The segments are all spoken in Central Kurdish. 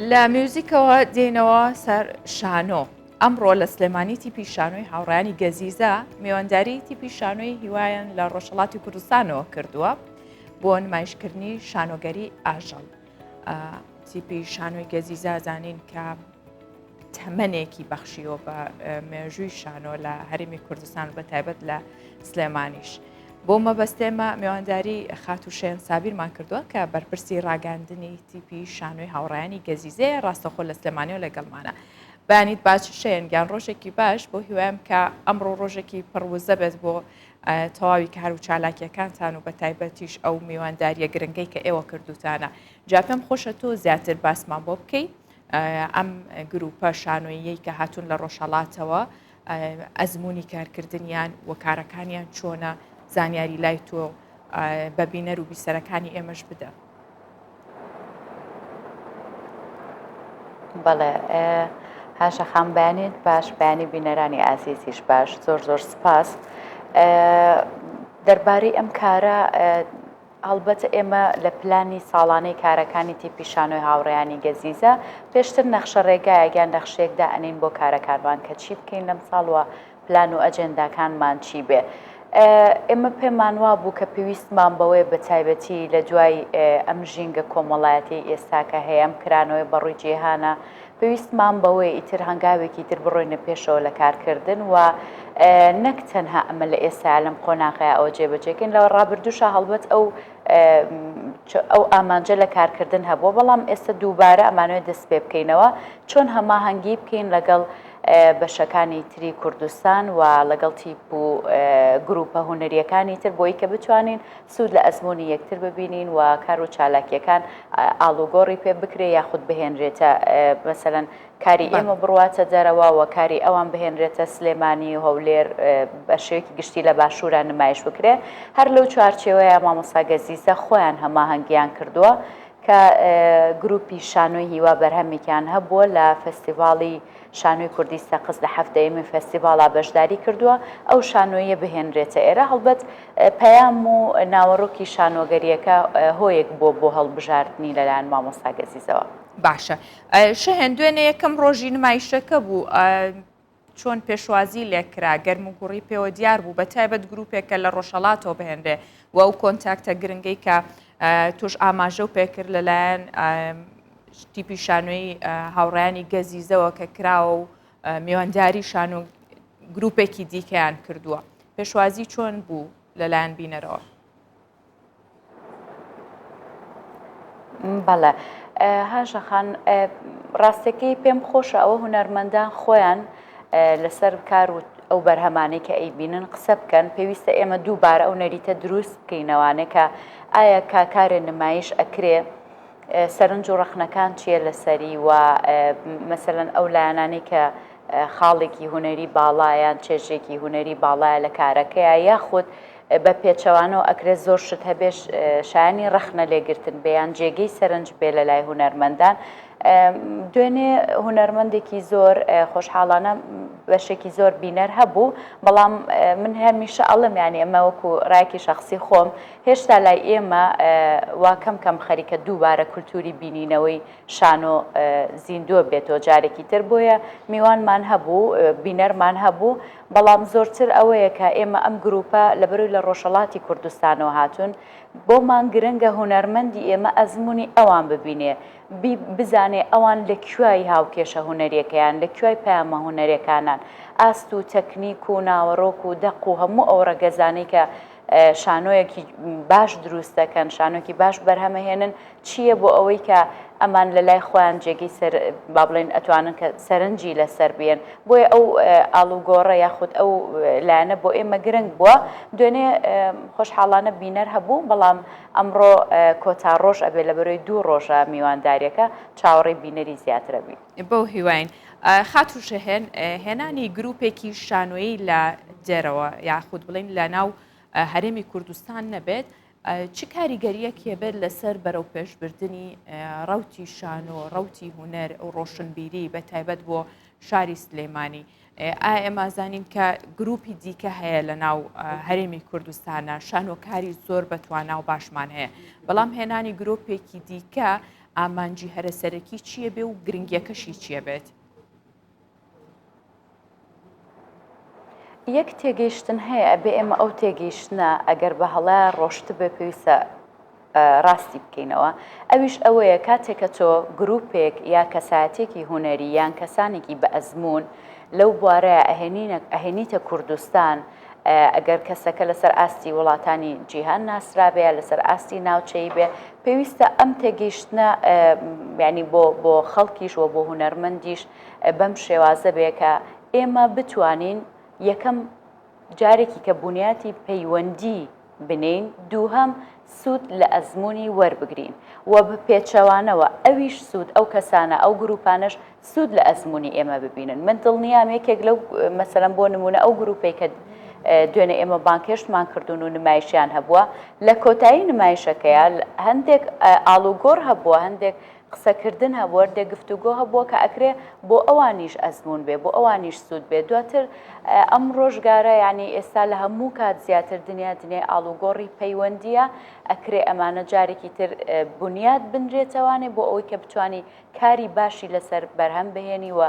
لە میوزیکەوە دێنەوە سەر شانۆ ئەمڕۆ لە سلێمانی تیپی شانۆی هاوڕانی گەزیزە میوانداری تیپی شانۆی هیوایان لە ڕۆژهڵاتی کوردستانەوە کردووە بۆ نمایشکردنی شانۆگەری ئاژەڵ تیپی شانۆی گەزیزازانین کە تەمەنێکی بەخشیوە بە مێژووی شانۆ لە هەرمی کوردستان بە تایبەت لە سلێمانیش. بۆ مەبەستێمە میوانداری خاتوشێن سابیرمان کردووە کە بەرپرسی ڕاگەاندنی تیپی شانۆی هاوڕیانی گەزیزێ ڕاستەخۆ لە سلێمانیەوە لەگەڵمانە بانیت باچ شێن گیان ڕۆژێکی باش بۆ هیوایم کە ئەمڕۆ ڕۆژێکی پڕوزە بێت بۆ تەواوی کار و چالاکیەکانتان و بە تایبەتیش ئەو میوانداریە گرنگەی کە ئێوە کردوتانە جاپم خۆشە تۆ زیاتر باسمان بۆ بکەیت ئەم گرووپە شانۆییەی کە هاتوون لە ڕۆژهەڵاتەوە ئەزمموی کارکردنیان و کارەکانیان چۆنە زانیاری لای تۆ بە بینەر و بیسەرەکانی ئێمەش بدە. بەڵێ هاشە خامبانیت باش بەیانی بینەرانی ئازیزیش باش زۆر زۆر سپاس دەربارەی ئەم کارە هەڵبەت ئێمە لە پلانی ساڵانەی کارەکانی تیپی شانۆی هاوڕێیانی گەزیزە، پێشتر نەخشە ڕێگایەک یان نەخشەیەک دائەنێین بۆ کارەکانمان کە چی بکەین لەم ساڵ و پلان و ئەجێنداکانمان چی بێ. ئێمە پێمان وا بوو کە پێویستمان بەوەیە بە تایبەتی لە دوای ئەم ژینگە کۆمەڵایەتیەی ئێستا کە هەیە، ئەم کرانەوەی بەڕووی جیهانە، پێویستمان بەوەیە ئیتر هەنگاوێکی تر بڕۆینە پێشەوە لە کارکردن و نەک تەنها ئەمە لە ئێستایا لەم قۆناغەیە ئەوە جێبەجێکەین لەوە ڕابردووشە هەڵبەت ئەو ئەو ئامانجە لە کارکردن هەبووە بەڵام ئێستا دووبارە ئەمانوێت دەست پێ بکەینەوە چۆن هەماهەنگی بکەین لەگەڵ بەشەکانی تری کوردستان و لەگەڵ تیپ و گروپە هوەریەکانی تر بۆی کە بتوانین سوود لە ئەزموونی یەکتر ببینین و کار و چالاکییەکان ئاڵوگۆڕی پێ بکرێ یاخود بهێنرێتە مەسەلەن کاری ئێمە بڕواتە دەرەوە و کاری ئەوان بهێنرێتە سلێمانی و هەولێر بە شێوەیەکی گشتی لە باشوورا نمایش بکرێ. هەر لەو چوارچێوەیە مامۆستا گەزیزە خۆیان هەماهەنگییان کردووە کە گرووپی شانۆی هیوا بەرهەمێکیان هەبووە لە فێستیڤاڵی شانۆی کوردی سەقز لە حەفتەیەمین فێستیڤاڵا بەشداری کردووە، ئەو شانۆییە بهێنرێتە ئێرە، هەڵبەت پەیام و ناوەڕۆکی شانۆگەرییەکە هۆیەک بووە بۆ هەڵبژاردنی لەلایەن مامۆستا گەزیزەوە. باشە شەهێن دوێنێ یەکەم ڕۆژی نمایشەکە بوو چۆن پێشوازی لێکرا گەرم و گوڕی پێوە دیار بوو بە تایبەت گروپێک کە لە ڕۆژهڵاتەوە بهێنرێ و ئەو کۆنتاکتە گرنگەی کە توش ئاماژە و پێکرد لەلایەن تیپی شانۆی هاوڕیانی گەزیزەوە کە کراوە و میوانداری شانۆ گروپێکی دیکەیان کردووە پێشوازی چۆن بوو لەلایەن بینەرەوە بەڵێ هاژەخان ڕاستەکەی پێم خۆشە ئەوە هوەرمەندان خۆیان لەسەر کار و ئەو بەرهەمانەی کە ئەی بینن قسە بکەن پێویستە ئێمە دووبارە ئەو نەریتە دروست بکەینەوانێکە ئایا کاکارێ نمایش ئەکرێ سەرنج و ڕەخنەکان چییە لەسەری و مەسەلەن ئەو لایەنانەی کە خاڵێکی هونەری باڵا یان چێژێکی هونەری باڵایە لە کارەکەیا یاخود بە پێچەوانەوە ئەکرێت زۆر شت هەبێ شایانی ڕەخنە لێگرتن بێ یان جێگەی سەرنج بێ لە لای هونەرمەندان دوێنێ هونەرمەندێکی زۆر خۆشحاڵانە بەشێکی زۆر بینەر هەبوو بەڵام من هەمیشە ئەڵم یانی ئەمە وەکو ڕایکی شخصی خۆم هێشتا لای ئێمە وا کەم کەم خەریکە دووبارە کولتووری بینینەوەی شانۆ زیندووە بێتەوە جارێکی تر، بۆیە میوانمان هەبوو، بینەرمان هەبوو، بەڵام زۆرتر ئەوەیە کە ئێمە ئەم گرووپە لەبەرەوەی لە ڕۆژهەڵاتی کوردستانەوە هاتوون، بۆمان گرنگە هونەرمەندی ئێمە ئەزموونی ئەوان ببینێ، بزانێ ئەوان لە کوێی هاوکێشە هونەرییەکەیان، لە کوێی پەیامە هونەرییەکانان، ئاست و تەکنیک و ناوەڕۆک و دەق و هەموو ئەو ڕەگەزانەی کە شانۆیەکی باش دروست دەکەن شانۆکی باش بەرهەمەهێنن چییە بۆ ئەوەی کە ئەمان لە لای خۆیان جێگەی سەر با بڵێن ئەتوانن کە سەرنجی لەسەر بێن بۆیە ئەو ئاڵوگۆڕە یاخود ئەو لایەنە بۆ ئێمە گرنگ بووە دوێنێ خۆشحاڵانە بینەر هەبوو بەڵام ئەمڕۆ کۆتا ڕۆژ ئەبێ لە بەرۆی دوو ڕۆژە میوانداریەکە چاوەڕی بینەری زیاترەبی بەو هیواین خاتوو شەهێن، هێنانی گروپێکی شانۆیی لە دێرەوە یاخود بڵین لە ناو هەرێمی کوردستان نەبێت، چ کاریگەریەک هێبێت لەسەر بەرەو پێشبردننی ڕوتی شانۆ ڕوتی هوەر و ڕۆشنبیری بە تایبەت بۆ شاری سلێمانی ئا ئێمازانین کە گروپی دیکە هەیە لە ناو هەرێمی کوردستانە شانۆکاری زۆر بەتوانا و باشمان هەیە بەڵام هێنانی گرۆپێکی دیکە ئامانجی هەرە سەرەکی چییە بێ و گرنگیەکەشی چییە بێت؟ یەک تێگەیشتن هەیە ئەبێ ئێمە ئەو تێگەیشتە ئەگەر بە هەڵە ڕۆشت بێ پێویستە ڕاستی بکەینەوە ئەویش ئەوەیە کاتێکە تۆ گرروپێک یا کەساتێکی هوەری یان کەسانێکی بە ئەزمون لەو بوارەیە ئەهێنینە ئەهێنیتە کوردستان ئەگەر کەسەکە لەسەر ئاستی وڵاتانی جیهان ناسرابێ لەسەر ئاستی ناوچەی بێ پێویستە ئەم تێگەیشتنە ینی بۆ بۆ خەڵکیش و بۆ هوەرمەندیش بەم شێوازە بێ کە ئێمە بتوانین یەکەم جارێکی کە بنیاتی پەیوەندی بنێین، دووهەم سوود لە ئەزموونی وەربگرین و بەپێچەوانەوە ئەویش سوود، ئەو کەسانە، ئەو گرووپانەش سوود لە ئەزموونی ئێمە ببینن. من دڵنیام یەکێک لەو، مەسەلەن بۆ نموونە ئەو گرووپەی کە دوێنێ ئێمە بانگهێشتمان کردوون و نمایشیان هەبووە، لە کۆتایی نمایشەکەیا هەندێک ئاڵوگۆڕ هەبووە، هەندێک قسەکردن هەبوو هەردێ گفتوگۆ هەبووە کە ئەکرێ بۆ ئەوانیش ئەزموون بێ بۆ ئەوانیش سوود بێ دواتر ئەم ڕۆژگارە یانی ئێستا لە هەموو کات زیاتر دنیا دنیای ئاڵوگۆڕی پەیوەندیە ئەکرێ ئەمانە جارێکی تر بنیات بنرێتەوانێ بۆ ئەوەی کە بتانی کاری باشی لەسەر بەرهەم بهێنی و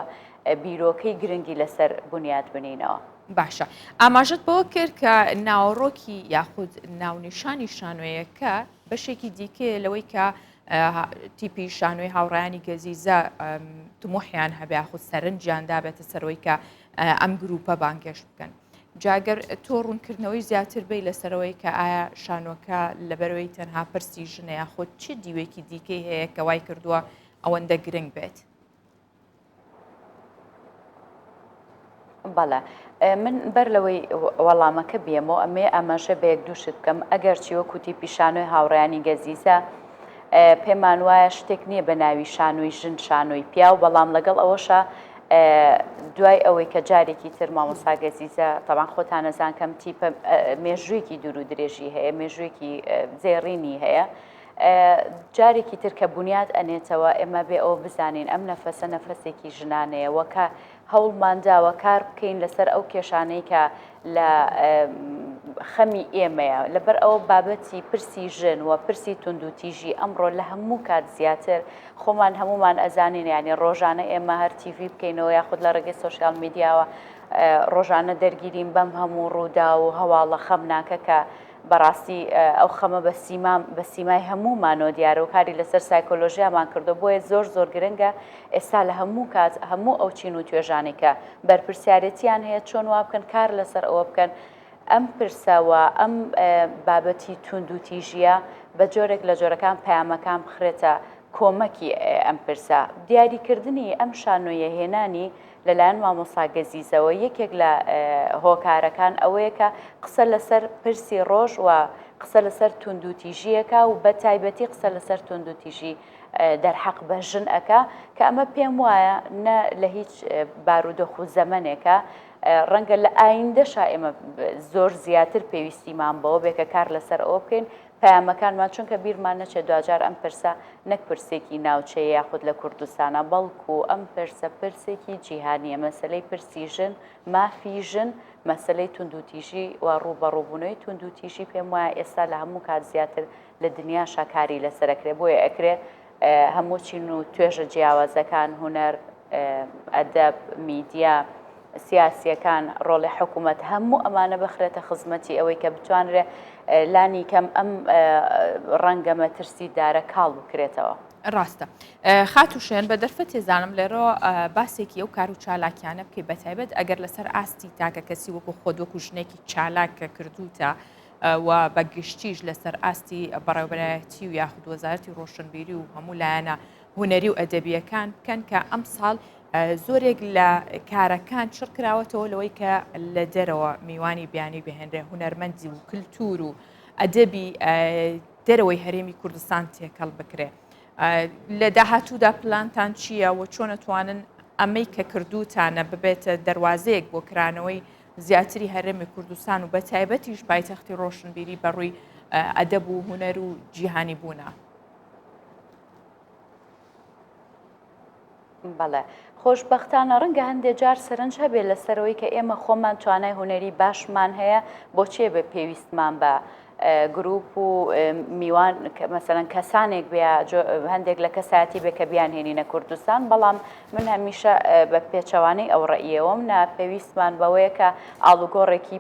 بیرۆکەی گرنگی لەسەر بنیات بنینەوە. باشە ئاماژەت بەوە کرد کە ناوەڕۆکی یاخود ناونیشانی شانۆیەکە بەشێکی دیکەیە لەوەی کە تیپی شانۆی هاوڕیانی گەزیزە تمۆحیان هەبێ خود سەرنجیان دابێتە سەرۆی کە ئەم گروپە بانگێش بکەن. جاگەر تۆ ڕوونکردنەوەی زیاتر بی لەسەرەوەی کە ئایا شانۆکە لەبەرەوەی تەنها پرسی ژنەیە خۆت چی دیوێکی دیکەی هەیە کە وای کردووە ئەوەندە گرنگ بێت بەڵێ من بەر لەوەی وەڵامەکە بێمەوە ئەمێ ئاماژە بە یەک دوو شت بکەم ئەگەر چیوە کوتی پیشانۆی هاوڕیانی گەزیزە پێمان وایە شتێک نییە بە ناوی شانۆی ژن شانۆی پیاو بەڵام لەگەڵ ئەوەشە دوای ئەوەی کە جارێکی تر مامۆساگەزیزە تەوان خۆتانەزان کەم تیپە مێژوویەکی دوور و درێژی هەیە مێژوویەکی زێڕینی هەیە جارێکی تر کە بونیاد ئەنێتەوە ئێمە بێ ئەوە بزانین ئەم نەفەسە نەفەسێکی ژنانەیە وە کە هەوڵمانداوە کار بکەین لەسەر ئەو کێشانەی کە لە خەمی ئێمەیە لەبەر ئەوە بابەتی پرسی ژن و پرسی توندوتیژی ئەمڕۆ لە هەموو کات زیاتر خۆمان هەمومان ئەزانین ینی ڕۆژانە ئێمە هەر تیڤ بکەینەوە یاخود لە ڕێگەی سوسیال میدیاوە ڕۆژانە دەرگیریم بەم هەموو ڕوودا و هەواڵە خەمناکەکە بەڕاستی ئەو خەمە بە سیمام بە سیمای هەموومانەوە دیارە و کاری لەسەر سایکۆلۆژیامان کردووە بۆیە زۆر زۆر گرنگە ئێستا لە هەموو کات هەموو ئەو چین و توێژانەی کە بەرپرسیارێتیان هەیە چۆن وا بکەن کار لەسەر ئەوە بکەن ئەم پرسە و ئەم بابەتی توندوتیژیە بە جۆرێک لە جۆرەکان پەیامەکان بخرێتە کۆمەکی ئەم پرسە دیاریکردنی ئەم شانۆیە هێنانی لەلایەن مامۆستا گەزیزەوە یەکێک لە هۆکارەکان ئەوەیە کە قسە لەسەر پرسی ڕۆژ و قسە لەسەر توندوتیژیەکە و بە تایبەتی قسە لەسەر توندوتیژی دەرحەق بە ژن ئەکا کە ئەمە پێم وایە نە لە هیچ بارودۆخ و زەمنێکە ڕەنگە لە ئایندەشا ئێمە زۆر زیاتر پێویستیمان بەوە بێکە کار لەسەر ئەوە بکەین پەیامەکانمان چونکە بیرمان نەچێت دواجار ئەم پرسە نەک پرسێکی ناوچەیە یاخود لە کوردستانە بەڵکو ئەم پرسە پرسێکی جیهانیە مەسەلەی پرسی ژن مافی ژن مەسەلەی توندوتیژی و ڕوبەڕوبونەوەی توندوتیژی پێم وایە ئێستا لە هەموو کات زیاتر لە دنیاشا کاری لەسەر ئەکرێت بۆیە ئەکرێت هەموو چین و توێژە جیاوازەکان، هونەر، ئەدەب، میدیا، سیاسییەکان، ڕۆڵی حکوومەت، هەموو ئەمانە بخرێتە خزمەتی ئەوەی کە بتوانرێت لانی کەم ئەم ڕەنگە مەترسیدارە کاڵ بکرێتەوە. ڕاستە خاتوو شێن بە دەرفە تێزانم لێرەوە باسێکی ئەو کار و چالاکیانە بکەی بەتایبەت ئەگەر لەسەر ئاستی تاکە کەسی وەکو خۆت وەکو ژنێکی چالاک کە کردوتە و بە گشتیش لەسەر ئاستی بەڕێوبەرایەتی و یاخود وەزارەتی ڕۆشنبیری و هەموو لایەنە هوەری و ئەدەبیەکان بکەن کە ئەم ساڵ زۆرێک لە کارەکان چڕ کراوەتەوە لەوەی کە لە دەرەوە میوانی بیانی بهێنرێ هوەرمەندی و کللتور و ئەدەبی دەرەوەی هەرێمی کوردستان تێکەڵ بکرێ لە داهاتوودا پلانتان چییە و چۆنەتوانن ئەمەی کە کردوتانە ببێتە دەواازەیەک بۆ کرانەوەی زیاتری هەرێمی کوردستان و بە تایبەتیش پایتەختی ڕۆشنبیری بەڕووی ئەدەب و هوەر و جیهانی بوونە. بەڵێ خۆشببختانە ڕەنگە هەندێک جار سەرنج هەبێت لەسەرەوەی کە ئێمە خۆمان توانای هوەری باشمان هەیە بۆچێ بە پێویستمان بە گروپ و میوان مەسەلەن کەسانێک بیا هەندێک لە کەسایەتی بێ کە بیان هێنینە کوردستان بەڵام من هەمیشە بە پێچەوانەی ئەو ڕئیەوەم نا پێویستمان بەوەیە کە ئاڵوگۆڕێکی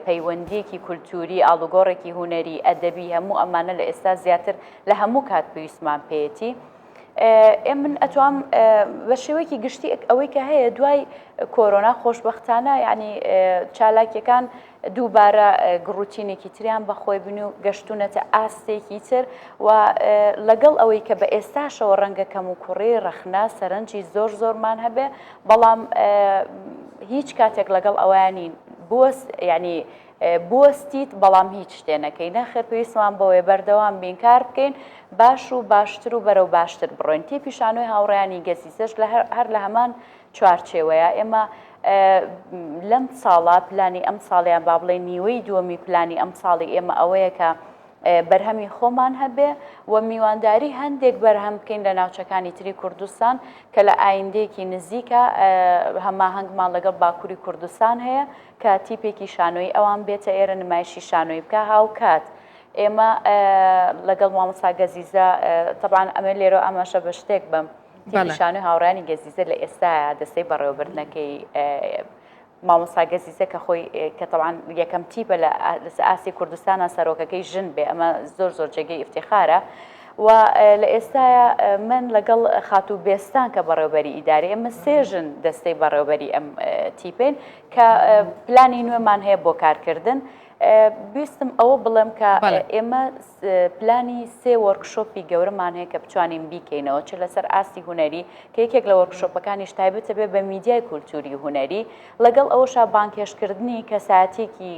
پەیوەندیەکی کولتوری ئاڵوگۆڕێکی هوەری ئەدەبی هەموو ئەمانە لە ئێستا زیاتر لە هەموو کات پێویستمان پێێتی. ئێ من ئەتوام بە شێوەیەکی گشتی ئەوەی کە هەیە دوای کۆرۆنا خۆشببختانە ینی چالاکیەکان دووبارە گڕوتینێکی تریان بەخۆی بن و گەشتوونەتە ئاستێکی تر و لەگەڵ ئەوەی کە بە ئێستاشەوە ڕەنگە کەموکوڕی، ڕەخنە، سەرنجی زۆر زۆرمان هەبێ، بەڵام هیچ کاتێک لەگەڵ ئەوەیا نین بوەست یانی بوەستیت بەڵام هیچ شتێ نەکەی، نەخێر پێویستمان بەوەیە بەردەوام بین کار بکەین، باش و باشتر و بەرەو باشتر بڕۆین. تیپی شانۆی هاوڕێیانی گەزیزەش هەر لە هەمان چوارچێوەیە، ئێمە لەم ساڵە پلانی ئەمساڵ یان با بڵێین نیوەی دووەمی پلانی ئەمساڵی ئێمە ئەوەیە کە بەرهەمی خۆمان هەبێ و میوانداری هەندێک بەرهەم بکەین لە ناوچەکانی تری کوردستان کە لە ئایندەیەکی نزیکە هەماهەنگمان لەگەڵ باکووری کوردستان هەیە کە تیپێکی شانۆی ئەوان بێتە ئێرە نمایشی شانۆی بکە هاوکات. ئێمە لەگەڵ مامەسا گەزیزە تەبان ئەمە لێرە ئاماشە بە شتێک بم. تیپی شانۆی هاوڕێیانی گەزیزە لە ئێستایا دەستەی بەڕێوەبردنەکەی مامۆسا گەزیزە کە خۆی کە تەوان یەکەم تیپە لە ئاسی کوردستانە سەرۆکەکەی ژن بێ ئەمە زۆر زۆر جێگەی ئفتیخارە و لە ئێستایا من لەگەڵ خاتو بێستان کە بەڕێوبەری ئیداری ئەمە سێژن دەستەی بەڕێوبەری ئەم تیپێن کە پلانی نوێمان هەیە بۆ کارکردن بیستم ئەوە بڵێم کە ئێمە پلانی سێ وەرکشۆپی گەورەمان هەیە کە بتوانین بیکەینەوە چ لەسەر ئاستی هوەری کە یەکێک لە وەرکشۆپەکانیش تایبەتە بێ بە میدیای کولتوری هوەری لەگەڵ ئەوەشا بانکێشکردنی کەساتێکی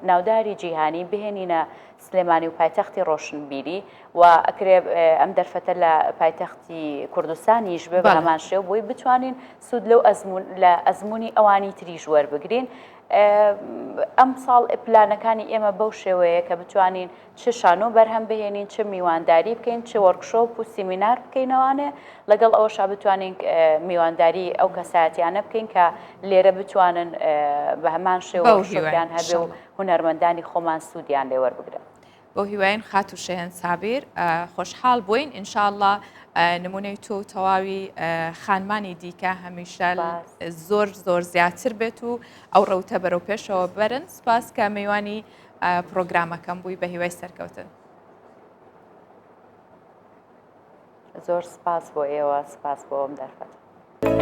ناوداری جیهانی بهێنینە سلێمانی و پایتەختی ڕۆشنبیری و ئەکرێ ئەم دەرفەتە لە پایتەختی کوردستانیش بێ بەمان شێ بۆی بتوانین سوود لەو ئەزمون لە ئەزمموی ئەوانی تریژ وەربگرین ئەمساڵ پلانەکانی ئێمە بەو شێوەیە کە بتوانین چ شانۆ بەرهەم بهێنین چ میوانداری بکەین چ وەرکشۆپ و سیمینار بکەینەوانێ لەگەڵ ئەوەشا بتوانین میوانداری ئەو کەسایەتیانە بکەین کە لێرە بتوانن بە هەمان شێوەیان هەبێ و هونەرمەندانی خۆمان سوودیان لێوەربگرن. بۆ هیواین خاتو شەهێن سابیر خۆشحاڵ بووین ان شاء اللە نمونەی تۆ و تەواوی خانمانی دیکە هەمیشە زۆر زۆر زیاتر بێت و ئەو ڕەوتە بەرەو پێشەوە بەرن سپاس کە میوانی پرۆگرامەکەم بووی بە هیوای سەرکەوتن زۆر سپاس بۆ ئێوە سپاس بۆ ئەم دەرفەت